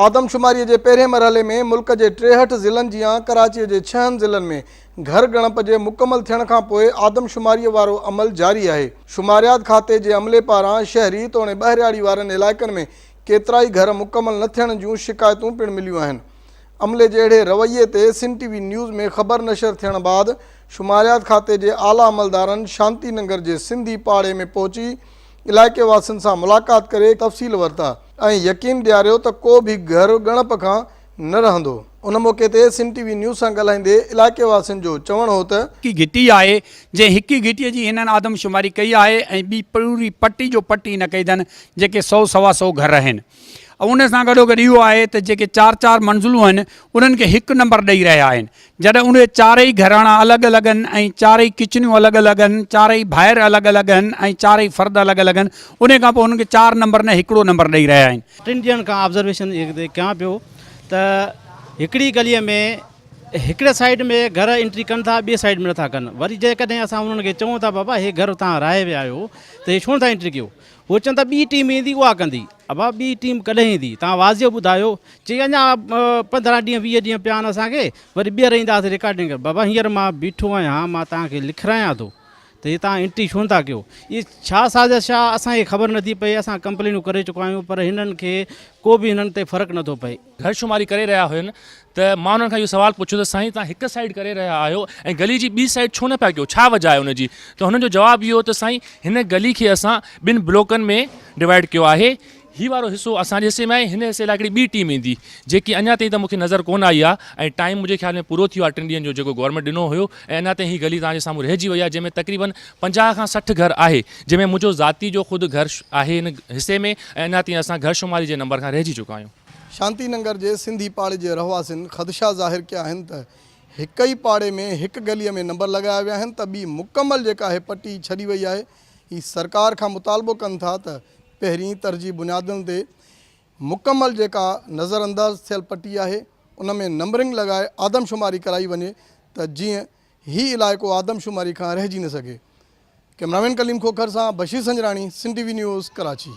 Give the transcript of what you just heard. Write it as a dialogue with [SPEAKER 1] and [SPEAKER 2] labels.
[SPEAKER 1] آدمشماري جي پهرين مرحلي ۾ ملڪ جي ٽيهٺ ضلعن جيان ڪراچي جي ڇهن ضلعن ۾ گهر ڳڻپ جي مڪمل ٿيڻ کانپوء آدمشماري وارو عمل جاري آهي. شماريات کاتي جي عملي پاران شهري توڻي ٻهرياڙي وارن علائقن ۾ ڪيترائي گهر مڪمل نه ٿيڻ جون شڪايتون پڻ مليون آهن. عملي جي اهڙي رويي تي سن ٽي وي نيوز ۾ خبر نشر ٿيڻ بعد شماريات کاتي جي اعليٰ عملدارن شانتي ننگر جي سنڌي پاڙي ۾ پهچي علائقي واسين سان ملاقات ڪري تفصيل ورتا ۽ يقين ڏياريو ته ڪو به گهر ڳڻپ کان نه رهندو ان موقعي تي سم ٽي وي نيوز سان ڳالهائيندي علائقي واسين جو چوڻ هو ته. هڪ گهٽي آهي
[SPEAKER 2] جنهن هڪ گهٽي جي هنن آدمشماري ڪئي آهي ۽ ٻي پوري پٽي جو پٽ ئي نه ڪئي اٿن جيڪي سئو سوا سئو گهر اهن ۽ ان سان گڏوگڏ اهو آهي ته جيڪي چار چار منزلون اهن انهن کي هڪ نمبر ڏئي رهيا آهن جڏهن اهي چارئي گهراڻا الڳ الڳ هن ۽ چارئي ڪچنيون الڳ الڳ هن، چارئي ڀائر الڳ الڳ هن ۽ چارئي فرد الڳ الڳ هن، انهي کان پوء هنن کي چار نمبر نه هڪڙو نمبر ڏئي رهيا آهن. ٽن ڏينهن کان آبزرويشن
[SPEAKER 3] ڪيان پيو ته هڪڙي گلي ۾ هڪڙي سائيڊ ۾ گهر انٽري ڪن ٿا ٻي سائيڊ ۾ نٿا ڪن وري جيڪڏهن اسان انهن کي چئون ته بابا هي گهر توهان راهي ويا آهيو ته هي ڇو نٿا انٽري ڪيو. هو چون ته ٻي ٽيم ايندي اها ڪندي. ابا ٻي ٽيم ڪڏهن ايندي توهان واضح ٻڌايو. چي اڃا پندرهن ڏينهن ويهه ڏينهن پيا آهن اسان کي وري ٻيهر اينداسين رڪارڊنگ ڪرڻ. بابا هينئر مان بيٺو آهيان مان توهان کي لکرايان ٿو ته هي توهان انٽري ڇو نٿا ڪيو. اهي ڇا سازش آهي اسان کي خبر نٿي پئي اسان ڪمپلينون ڪري چڪا آهيون پر هنن کي ڪو به هنن تي فرق نٿو پئي. گهر شماري ڪري رهيا
[SPEAKER 4] هين ته مان انهن کان اهو سوال پڇيو ته سائين توهان هڪ سائيڊ ڪري رهيا آهيو ۽ گلي جي ٻي سائيڊ ڇو نه پيا ڪيو ڇا وجهه آهي ان جي ته هنن جو جواب اهو هو ته سائين هن گلي کي اسان ٻن بلاڪن ۾ ڊوائيڊ ڪيو آهي هي وارو حصو اسان جي حصي ۾ آهي هن حصي لاء هڪڙي ٻي ٽيم ايندي جيڪي اڃا تائين ته مون کي نظر ڪونه آئي آهي ۽ ٽائيم منهنجي خيال ۾ پورو ٿي ويو آهي ٽن ڏينهن جو جيڪو گورنمينٽ ڏنو هيو ۽ اڃا تائين هي گلي توهان جي سامهون رهجي وئي آهي جنهن ۾ تقريبن پنجاهه کان سٺ گهر آهي جنهن ۾ منهنجو ذاتي جو خود گهر آهي هن حصي ۾ ۽ اڃا تائين اسان گهر شماري جي نمبر کان رهجي چڪا آهيون. شانتي ننگر جي
[SPEAKER 1] سنڌي پاڙي جي رهواسين خدشا ظاهر ڪيا آهن ته هڪ ئي پاڙي ۾ هڪ گلي ۾ نمبر لڳايا ويا آهن ته ٻي مڪمل جيڪا آهي پٽي ڇڏي وئي آهي هي سرڪار کان مطالبو ڪن ٿا ته پهرين ترجيح بنيادن تي مڪمل جيڪا نظر انداز ٿيل پٽي آهي ان ۾ نمبرنگ لڳائي آدمشماري ڪرائي وڃي ته جيئن هي علائقو آدمشماري کان رهجي نه سگهي ڪئميرامين ڪليم کوکر سان Bashir Sanjrani Sindh T V news Karachi